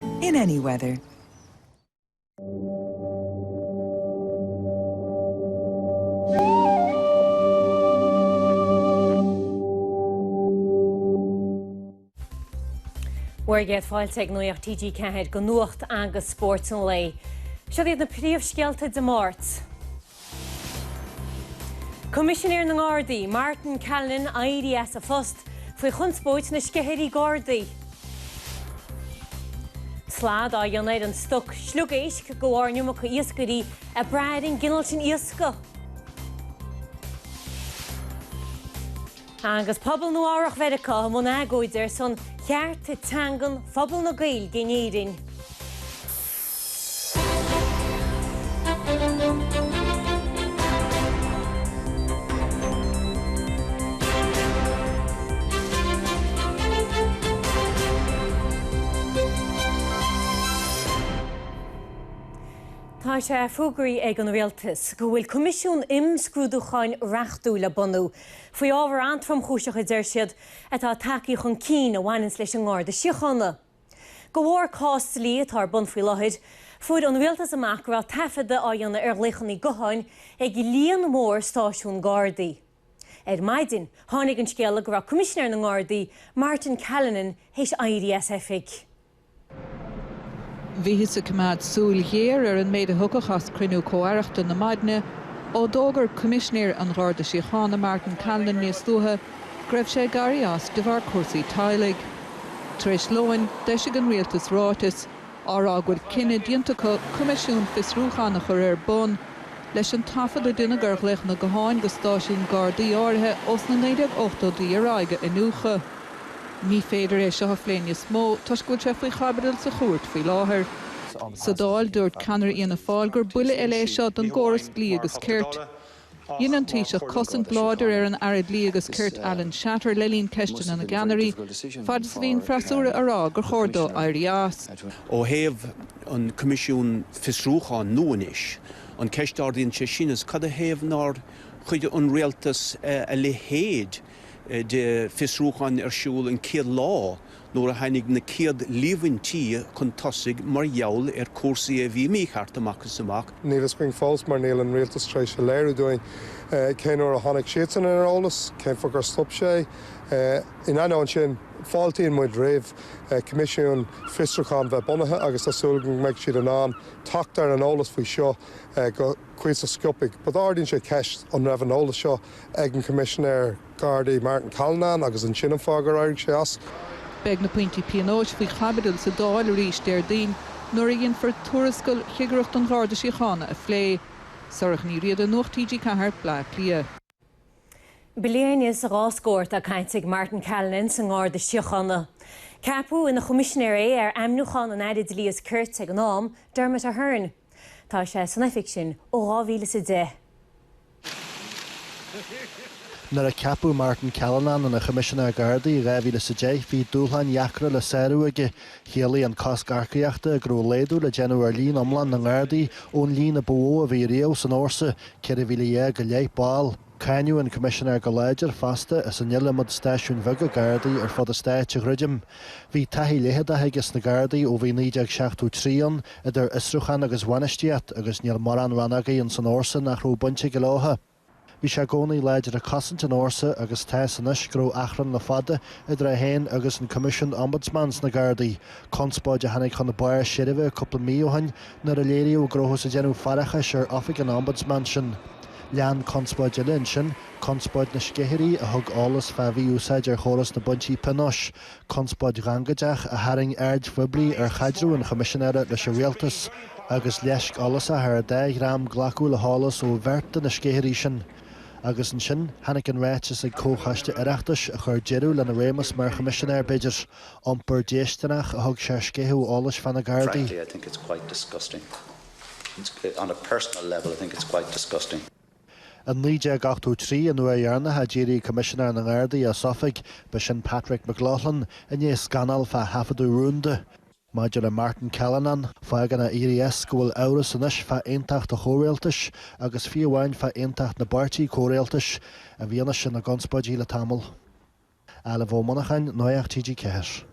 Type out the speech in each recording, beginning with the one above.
In any weather. Bhur gcéad fáilte ag Nuaíocht TG4 go Nuacht agus Spórt an lae. Seo iad na príomhscéalta Dé Máirt. Coimisinéir na nGardaí, Martin Callinan éirí as a phost faoi chonspóid na sceithirí Gardaí. Slad á dhéanamh ar an stoc sliogéisc de bharr an iomarca iascairí ag brath ar an gcineál sin iascaigh. Agus pobal Nua-Eabhrac Mheiriceá i mbun agóide ar son chearta teangan phobal na Gaeilge in Éirinn. Tá sé fógraithe ag an Rialtas go bhfuil coimisiún imscrúdúcháin reachtúil le bunú faoi ábhar an-tromchúiseach, a deir siad, atá tagtha chun cinn a bhaineanns leis an nGarda Síochána. De bharr cás dlí atá ar bun faoi láthair, fuair an rialtas amach go raibh taifeadadh á dhéanamh ar ghlaochanna gutháin ag líon mór stáisiún Gardaí. Ar maidin, tháinig an scéala go raibh Coimisinéir na nGardaí, Martin Callinan, théis éirí as oifig. Bhíothas ag coimeád súil ghéar ar an méid a thiocfadh as cruinniú comh-aireachta na maidne, ó d'fhógair Coimisinéir an Gharda Síochána, Martin Callinan, níos luaithe, go raibh sé ag éirí as de bharr cúrsaí teaghlaigh. Tar éis lóin, d'eisigh an rialtas ráiteas, á rá go bhfuil cinneadh déanta acu coimisiún fiosrúcháin a chur ar bun, leis an taifead a deineadh ar ghlaochanna gutháin go stáisiúin Gardaí áirithe ós na 1980idí ar aghaidh a iniúchadh. Ní féidir é seo a phlé níos mó, toisc go bhfuil sé faoi chaibidil sa chúirt faoi láthair. Sa Dáil, dúirt ceannaire Fhianna Fáil gur buille eile é seo don gcóras dlí agus cirt. Dhein an Taoiseach cosaint láidir ar an Aire Dlí agus Cirt Alan Shatter le linn Ceisteanna na gCeannairí, fad is a bhí an freasúra á rá gur chóir dó éirí as. Ó thaobh an Coimisiún Fiosrúcháin nua anois, an ceist a ardaíonn sé sin ná cad a thaobh nár chuir an Rialtas a leithéid de fiosrúcháin ar siúl an chéad lá nuair a tháinig na chéad líomhaintí chun tosaigh mar gheall ar chúrsaí a bhí mícheart amach is amach. Níl fhios againn fós mar níl an rialtas tar éis a léiriú dúinn cén uair a tháinig siadsan ar an eolas, cén fáth gur stop sé. In ainneoin sin, fáiltíonn muid roimh choimisiún fiosrúcháin bheith bunaithe agus tá súil againn go mbeidh siad in ann teacht ar an eolas faoi seo go cuíosach sciobtha. But ardaíonn sé ceist, an raibh an eolas seo ag an gCoimisinéir Gardaí Martin Callinan agus an é sin an fáth gur éirigh sé as. Beidh na pointí pionóis faoi chaibidil sa Dáil arís Déardaoin nuair a dhéanfar tuarascail Chigireacht an Gharda Síochána a phlé. Sorcha Ní Riada, Nuacht TG4, Baile Átha Cliath. Bliain is dhá scór atá caite ag Martin Callinan sa nGarda Síochána. Ceapadh ina Choimisinéir é ar ainmniúchán an Aire Dlí is Cirt ag an am, Dermot Ahern. Tá sé san oifig sin ó dhá mhíle is a deich. Nuair a ceapadh Martin Callinan ina Choimisinéir Gardaí in dhá mhíle is a deich, bhí dúshláin dheacra le sárú aige. Chiallaigh an cosc earcaíochta go raibh laghdú le déanamh ar líon iomlán na nGardaí ón líon a ba mhó a bhí riamh ins an fhórsa, 14,000 go leith ball. Cáineadh an Coimisinéir go láidir fosta as an iliomad stáisiúin bheaga Gardaí ar fud an Stáit a dhruidim. Bhí taithí leitheadach aige sna Gardaí ó bhí 1973 ann, idir fhiosrúchán agus bhainistíocht, agus níl mórán rannógaí ins an fhórsa nach raibh baint aige leotha. Bhí sé i gcónaí láidir ag cosaint an fhórsa agus tá's anois go raibh achrann le fada idir é héin agus an Coimisiún Ombudsman sna Gardaí, conspóid a tháinig chun barr seirbhe cúpla mí ó shin Nuair a léiríodh go rabhthas ag déanamh faireachais ar Oifig an Ombudsman sin, lean conspóid eile ansin, conspóid na sceithirí a thug eolas fá mhí-úsáid ar chóras na bpointí pionóis, conspóid ghangaideach a tharraing aird phoiblí ar chaidreamh an Choimisinéara leis an Rialtas agus leisc fhollasach ar an dá dhream glacadh le heolas ó bheirt de na sceithirí sin. Agus ansin, tháinig an ráiteas ag Comhchoiste Oireachtais a chuir deireadh lena réimeas mar Choimisinéir, b'fhéidir. Iompar déistineach a thug sé ar sceitheadh eolais fá na Gardaí. Frankly, I think it's quite disgusting. It's, on a personal level, I think it's quite disgusting. In 1983, an uair dheireanach a d'éirigh Coimisinéir na nGardaí as oifig, ba sin Patrick McLoughlin, i ndiaidh scannail fá thaifeadadh rúnda. Maidir le Martin Callinan, fágann a éirí-as go bhfuil amhras anois fá aontacht an chomhrialtais, agus fiú amháin fá aontacht na bpáirtí comhrialtais, i bhfianaise na gconspóidí le tamall. Ailbhe Ó Monacháin, Nuacht TG4.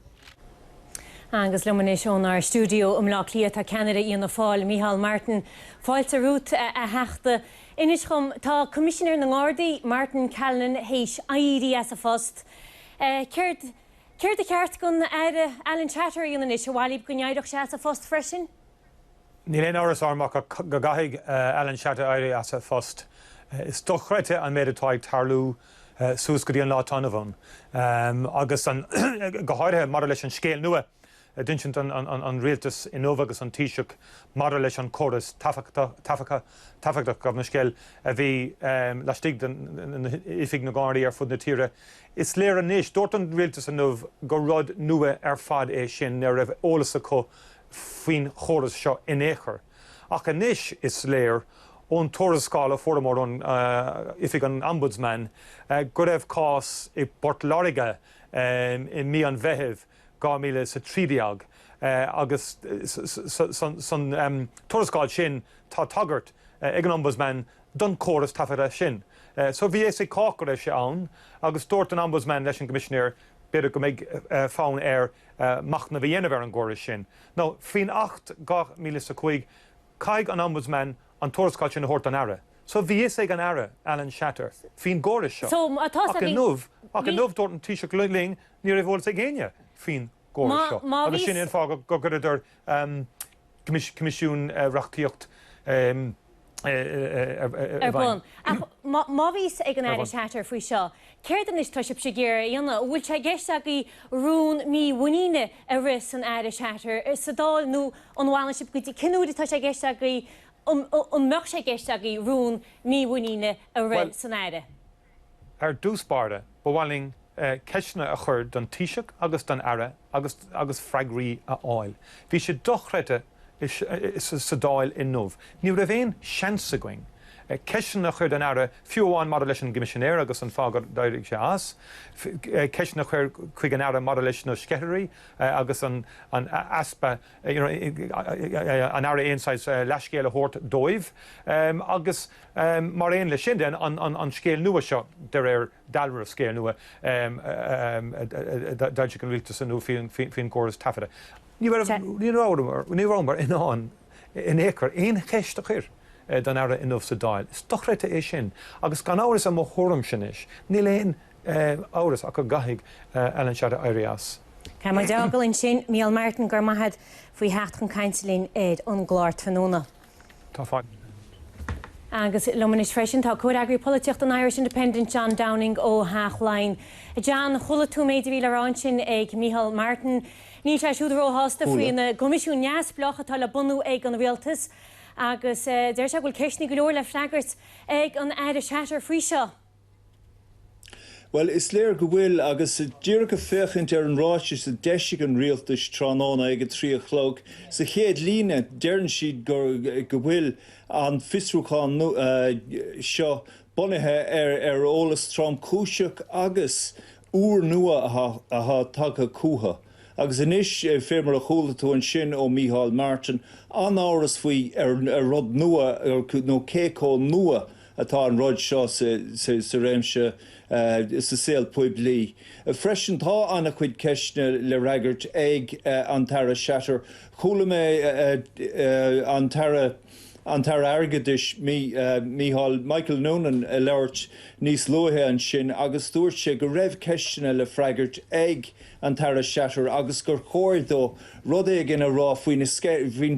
Agus liom anois ónár stiúideo i mBleá Cliath tá ceannaire Fhianna Fáil, Micheál Martin. Fáilte romhat, a Theachta. Inis dhom, tá Coimisinéir na nGardaí, Martin Callinan, théis éirí as a phost. Céard, céard ba cheart don Aire Alan Shatter a dhéanamh anois? An bhfáilteofá go n-éireoch sé as a phost freisin? Níl aon amhras orm ach go gcaithfidh Alan Shatter éirí as a phost. Is dochreidte an méid atá ag tarlú suas go dtí an lá atá inniu ann agus go háirithe maidir leis an scéal nua a d'insint an rialtas inniu agus an Taoiseach maidir leis an gcóras taifeadta. gabh mo leithscéal a bhí laistigh d'Oifig na nGardaí ar fud na tíre. Is léir anois, dúirt an rialtas inniu gur rud nua ar fad é sin, nach raibh eolas acu faoin gcóras seo in aon chor, ach anois is léir ón tuarascáil a fuaireamar ó Oifig an Ombudsman go raibh cás i bPort Láirge i mí an Mheithimh 2013 agus san tuarascáil sin tá tagairt ag an Ombudsman don chóras taifeadta sin. So bhí a fhios ag cách go raibh sé ann agus dúirt an Ombudsman leis an gCoimisinéir b'fhéidir go mbeidh fonn air machnamh a dhéanamh ar an gcóras sin nó, faoin Acht 2005, caithfidh an Ombudsman an tuarascáil sin a thabhairt don Aire. So, bhí a fhios ag an Aire, Alan Shatter, faoin gcóras seo. Ach inniu, ach inniu, dúirt an Taoiseach linn, ní raibh eolas ag éinne faoin gcóras seo agus sin é an fáth go gcuireadar, coimisiún reachtaíocht i bhfeidhm. Ach má bhí a fhios ag an Aire Shatter faoi seo, céard anois atá sibhse ag iarraidh a dhéanamh? An bhfuil sé i gceist agaibh rún mímhuiníne a rith san Aire Shatter sa Dáil nó an bhfanfaidh sibh go dtí, cén uair atá sé i gceist agaibh, an mbeadh sé i gceist agaibh rún mímhuiníne a rith san Aire? Ar dtús báire, ba mhaith linn ceisteanna a chur don Taoiseach agus don Aire agus freagraí a fháil. Bhí sé dochreidte sa Dáil inniu. Ní raibh aon seans againn ceisteanna a chur don Aire, fiú amháin maidir leis an gCoimisinéir agus an fáth gur éirigh sé as, ceisteanna a chur chuig an Aire maidir leis na sceithirí agus an easpa an Aire aon saghas leathscéal a thabhairt dóibh agus. Mar aon leis sin den, an scéal nua seo, de réir dealraimh, scéal nua a d'fhoilsigh an rialtas inniu faoin gcóras taifeadta, ní rabhamar in ann in aon chor aon cheist a chur don Aire inniu sa Dáil. Is dochreidte é sin agus gan amhras, i mo thuairimse anois, níl aon amhras ach go gcaithfidh Alan Shatter éirí as. Caithfidh muid é a fhágáil ansin. Mícheál Martin, go raibh maith agat faoi theacht chun cainte linn ar an gclár tráthnóna. Tá fadhb. Agus liom anois freisin tá Comhfhreagraí Polaitíochta an Irish Independent, John Downing ó Theach Laighin. John, chuala tú an méid a bhí le rá ansin ag Micheál Martin. Níl sé siúd róshásta faoin gCoimisiún Neamhspleách atá le bunú ag an Rialtas agus deir sé go bhfuil ceisteanna go leor le freagairt ag an Aire Shatter faoi seo. Bhuel, is léir go bhfuil, agus díreach ag féachaint ar an ráiteas a d'eisigh an rialtas tráthnóna ag a trí a chlog, sa chéad líne, deireann siad go go bhfuil an fiosrúchán seo bunaithe ar eolas tromchúiseach agus úrnua atá tagtha chucu. Agus anois, fé mar a chuala tú ansin ó Micheál Martin, an-amhras faoi ar rud nua nó cé chomh nua atá an rud seo sa réimse sa saol poiblí. Freisin, tá an-chuid ceisteanna le freagairt ag an tAire Shatter. Chuala mé an tAire an tAire Airgeadais, Micheál Michael Noonan a labhairt níos luaithe ansin agus dúirt sé go raibh ceisteanna le freagairt ag an tAire Shatter agus gur chóir dó rud éigin a rá faoin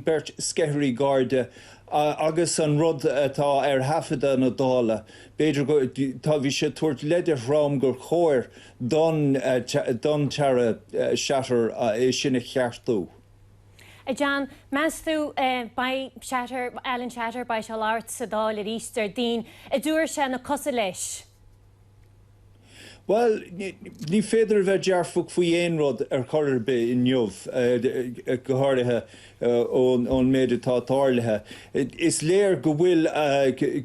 bheirt sceithirí Garda Agus an rud atá ar thaifeadadh na Dála, b'fhéidir go, tá, bhí sé ag tabhairt leid an-trom gur chóir don, don tAire Shatter é sin a cheartú. A John, meas tú, beidh Shatter, Alan Shatter, beidh sé ag labhairt sa Dáil aríst Déardaoin, a dúirt sé, nach cosúil leis? Bhuel, ní féidir a bheith dearfach faoi aon rud ar chor ar bith inniu, go háirithe ón méid atá tarlaithe. Is léir go bhfuil,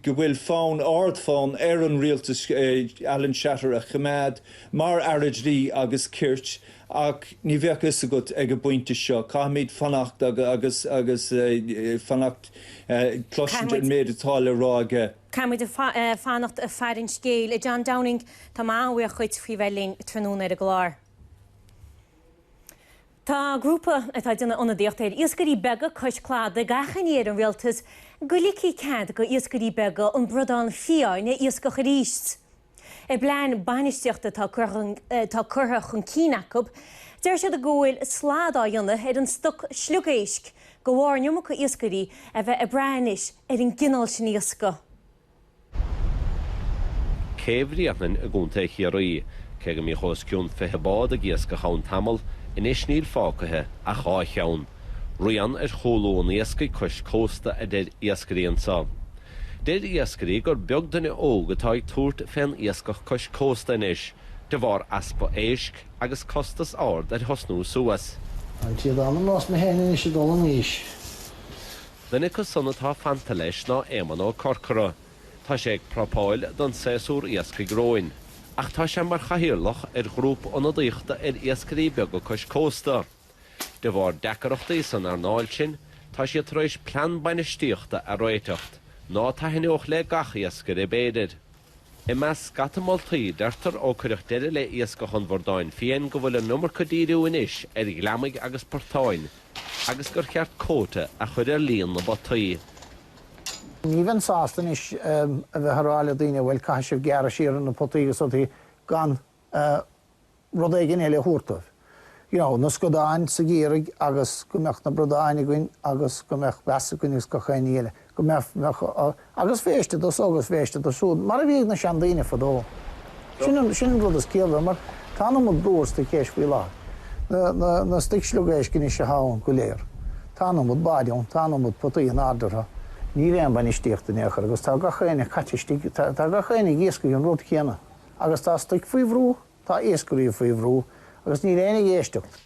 go bhfuil fonn, ard-fhonn ar an rialtas Alan Shatter a choimeád mar Aire Dlí agus Cirt ach ní bheadh fhios agat ag an bpointe seo. Caithfimid fanacht agus, agus fanacht, cloisteáil an méid atá le rá aige. Caithfidh muid fanacht ag faire an scéil. A John Downing, tá muid an-bhuíoch dhuit faoi bheith linn tráthnóna ar an gclár. Tá grúpa atá ag déanamh ionadaíocht ar iascairí beaga cois cladaigh ag achainí ar an Rialtas go ligfí cead d'iascairí beaga an bradán fiáin a iascach aríst. I bplean bainistíochta atá curtha chun cinn acu, deir siad go bhfuil slad á dhéanamh ar an stoc sliogéisc de bharr an iomarca iascairí a bheith ag brath anois ar an gcineál sin iascaigh. Cé Bhréanainn i gContae Chiarraí. Cé go mbíodh os cionn fiche bád ag iascach ann tamall, anois níl fágtha ach dhá cheann. Rian ar chúlú an iascaigh cois cósta a deir iascairí anseo. Deir iascairí gur beag duine óg atá ag tabhairt fén iascach cois cósta anois de bharr easpa éisc agus costas ard ar thosnú suas. An té dá mba nós mé féin anois ag dul in aois. Duine acu san atá fanta leis ná Éamonn Ó Corcora. Tá sé ag prapáil don séasúr iascaigh romhainn. Ach tá sé mar chathaoirleach ar ghrúpa ionadaíochta ar iascairí beaga cois cósta. De bharr deacarachtaí san earnáil sin, tá sé tar éis plean bainistíochta a réiteach ná taithneodh le gach iascaire b'fhéidir. I measc scata moltaí, deirtear ó cuireadh deireadh le iascach an bhradáin fhiain go bhfuil an iomarca díriú anois ar ghliomaigh agus portáin agus gur cheart cóta a chur ar líon na bpotaí. Ní bheinn sásta anois a bheith ag rá le daoine bhuel caithfidh sibh gearradh siar ar na potaí agus rudaí gan rud éigin eile a thabhairt dóibh, you know, na scadáin ag Ciarraígh agus go mbeadh na bradáin againn agus go mbeadh blas againn agus gach aon ní eile, go mbeadh, bheadh, agus féiste do so agus féiste do siúd, mar a bhí ag na seandaoine fadó. Sin an, sin an rud is ciallmhar mar tá an iomad brú sa chéis faoi láthair, na, na, na stuic sliogéisc anois atá ann go léir, tá an iomad báid ann, tá an iomad potaí á n-ardú, níl aon bhainistíocht in aon chor agus tá gach éinne caite isteach, tá, tá gach éinne ag iascaigh an rud céanna agus tá stuic faoi bhrú. Tá iascairí faoi bhrú agus níl éinne ag éisteacht.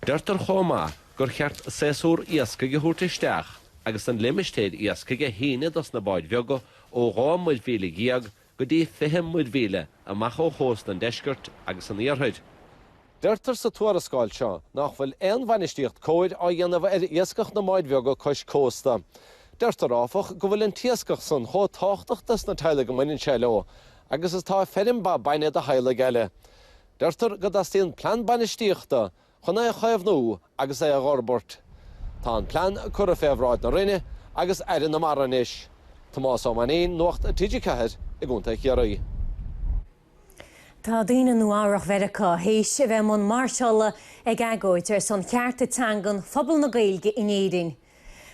Deirtear chomh maith gur cheart saesúr iascaigh a thabhairt isteach agus an limistéar iascaigh a shíneadh dos na báid bheaga ó dhá muirmhíle dhéag go dtí fiche muirmhíle amach ó chósta an deiscirt agus an iarthair. Deirtear sa tuarascáil seo nách bhfuil aon bhainistíocht chóir á dhéanamh ar iascach na mbád beaga cois cósta. Deirtear, áfach, go bhfuil an t-iascach san chomh táchtach dos na teaghlaigh a mbaineann sé leo agus is tá feirm ba bainne do theaghlaigh eile. Deirtear go dteastaíonn plean bainistíochta chun é a chaomhnú agus é a dh'fhorbairt. Tá an plean curtha fé bhráid na Roinne agus Aire na Mara anois. Tomás Ó Mainín, Nuacht TG4 i gContae Chiarraí. Tá daoine i Nua-Eabhrach Mheiriceá théis a bheith i mbun máirseála ag agóid ar son chearta teangan phobal na Gaeilge in Éirinn.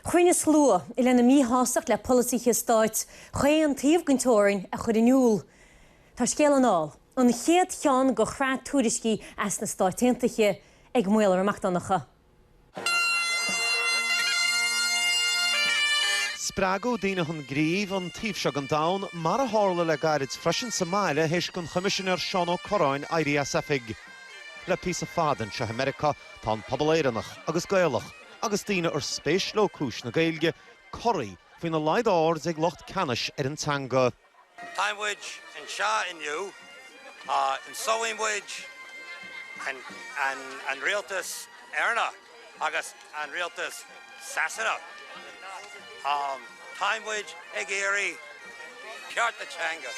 Chruinnigh slua lena míshástacht le polasaithe stáit chaon taobh den teorainn a chur in iúl. Tá scéal anall, an chéad cheann de shraith tuairiscí as na Stáit Aontaithe, ag Maolra Mac Donncha. Spreagadh daoine chun gnímh an taobh seo den domhan, mar a tharla le gairid freisin sa mbaile th'éis don Choimisinéir Seán Ó Cuirreáin éirí as oifig. Le píosa fada anseo i Meiriceá tá an pobal Éireannach agus Gaelach, Agus daoine ar spéis leo cúis na Gaeilge, corraí faoina laghad airde ag lucht ceannais ar an teanga. Táimid anseo inniu. Inseoidh muid an rialtas Éireannach agus an rialtas Sasanach. Táimid ag iarraidh cearta teanga.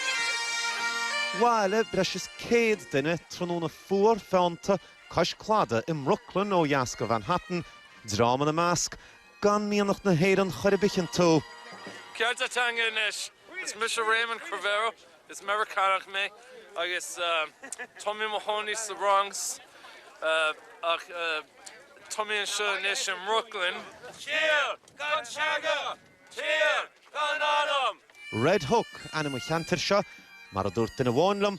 Bhailigh breis is céad duine tráthnóna fuar feannta cois cladaigh i mBrooklyn ó dheas de Mhanhattan, dream ina measc gan mianach na hÉireann chor ar bith iontu. Cearta teanga anois! Is mise Raymond Crivero, is Meiriceánach mé agus tá mé i mo chónaí sa Bhronx ach tá mé anseo anois i mBrooklyn. Tír gan teanga! Tír gan anam! Red Hook ainm an cheantair seo. Mar a dúirt duine amháin liom,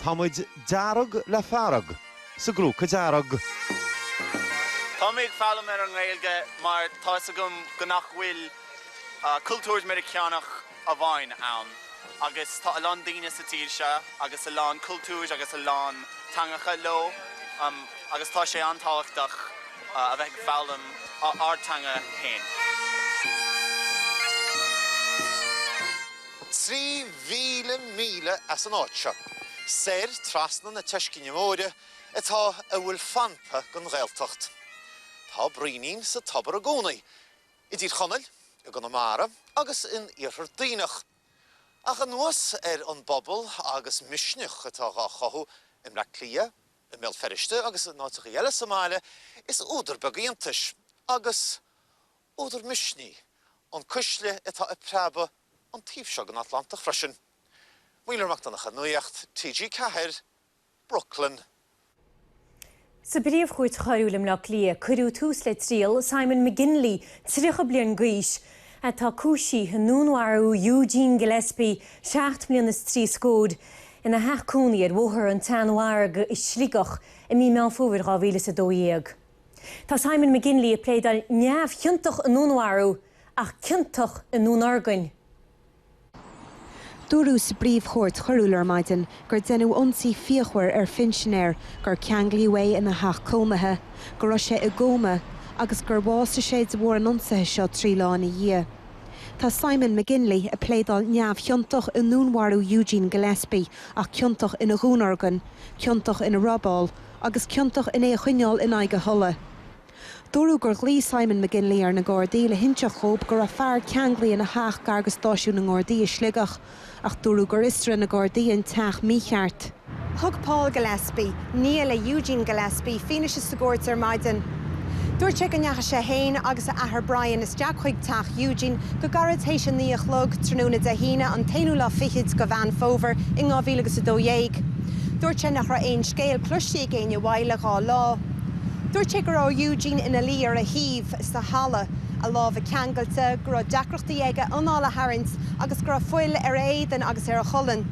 tá muid dearg le fearg sa gcrúca dearg. Tá mé ag foghlaim na Gaeilge mar tá 'fhios agam go nach bhfuil cultúr Meiriceánach amháin ann. Agus tá a lán daoine sa tír seo agus a lán cultúir agus a lán teangacha leo agus tá sé an-tábhachtach a bheith ag foghlaim ár dteanga féin. Trí mhíle míle as an áit seo, soir trasna na Teiscinne Móire, atá a bhfuil fanta den Ghaeltacht. Tá braoinín sa tobar i gcónaí. i dTír Chonaill, i gConamara agus in Iarthar Duibhneach. Ach anuas ar an bpobal agus misneach atá dhá chothú i mBleá Cliath, i mBéal Feirste agus in áiteachaí eile sa mbaile, is údar beag iontais, agus údar misnigh, an chuisle atá ag preabadh an taobh seo den Atlantach freisin. Maolra Mac Donncha, Nuacht TG4. Brooklyn. Sa bPríomh-Chúirt Choiriúil i mBleá Cliath cuireadh tús le triail Simon McGinley, 30 bliain d'aois, atá cúisithe i ndúnmharú Eugene Gillespie, seacht mbliana is trí scór, ina theach cónaí ar Bhóthar an tSeanmhargaidh i Sligeach i mí Meán Fómhair 2012. Tá Simon McGinley ag pléadáil neamhchiontach i ndúnmharú ach ciontach i ndúnorgain. Dúradh sa bPríomh-Chúirt Choiriúil ar maidin gur deineadh ionsaí fíochmhar ar phinsinéir, gur ceanglaíodh é ina theach cónaithe, go raibh sé i gcóma agus gur bhásaigh sé de bharr an ionsaithe seo trí lá ina dhiaidh. Tá Simon McGinley ag pléadáil neamhchiontach i ndúnmharú Eugene Gillespie ach ciontach ina dhúnorgain, ciontach ina robáil agus ciontach in é a choinneáil in aghaidh a thola, Dúradh gur ghlaoigh Simon McGinley ar na Gardaí le hinseacht dhóibh go raibh fear ceanglaithe ina theach gar do stáisiún na nGardaí i Sligeach, ach dúradh gur fhiosraigh na Gardaí an teach mícheart. Thug Paul Gillespie, nia le Eugene Gillespie, fianaise sa gcúirt ar maidin. Dúirt sé go ndeachaigh sé féin agus a athair Brian isteach chuig teach Eugene go gairid théis a naoi a chlog tráthnóna Dé hAoine an t-aonú lá fichid de Mheán Fómhair i ndhá mhíle agus a dó dhéag. Dúirt sé nach raibh aon scéal cloiste ag éinne uaidh le dhá lá. Dúirt sé go raibh Eugene ina luí ar a thaobh sa halla, a lámha ceangailte, go raibh deacrachtaí aige anáil a tharraingt agus go raibh fuil ar a éadan agus ar a cholainn.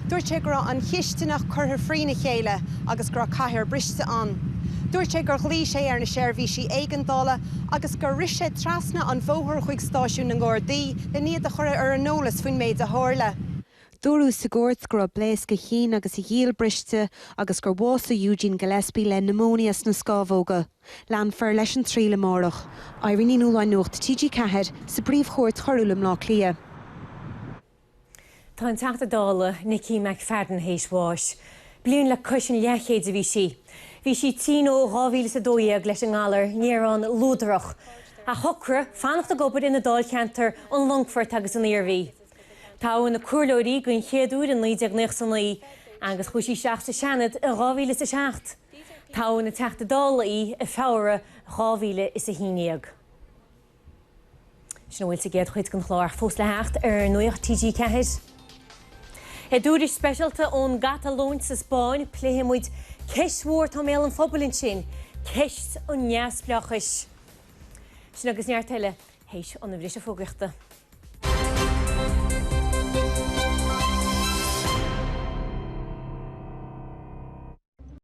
Dúirt sé go raibh an chistineach curtha thrína chéile agus go raibh cathaoir bhriste ann. Dúirt sé gur ghlaoigh sé ar na seirbhísí éigeandála agus gur rith sé trasna an bhóthair chuig stáisiún na nGardaí len iad a chur ar an eolas faoin méid a tharla. Dúradh sa gcúirt go raibh blaosc a chinn agus a ghiall briste agus gur bhásaigh Eugene Gillespie le pneumonia sna scámhóga. Leanfar leis an triail amárach. Irene Ní Nualláin Nuacht TG4 sa bPríomhchúirt Choiriúil i mBleá Cliath. Tá an Teachta Dála Nicky McFadden théis bháis. Bliain le cois an leathchéid a bhí sí. Bhí sí tinn ó 2012 leis an ngalar néarón luadrach. Ach shocraigh fanacht ag obair ina Dáilcheantar, an Longfort agus an Iarmhí. Toghadh ina comhairleoir í den chéad uair i 1999 agus chuaigh sí isteach sa Seanad i 2007. Toghadh ina Teachta Dála í i Feabhra 2011. Sin a bhfuil sa gcéad chuid den chlár ach fós le theacht ar Nuacht TG4. I dtuairisc speisialta ón gCatalóin sa Spáinn, pléifidh muid ceist mhór atá i mbéal an phobail ansin, ceist an neamhspleáchais. Sin agus neart eile théis an bhriste fógraíochta.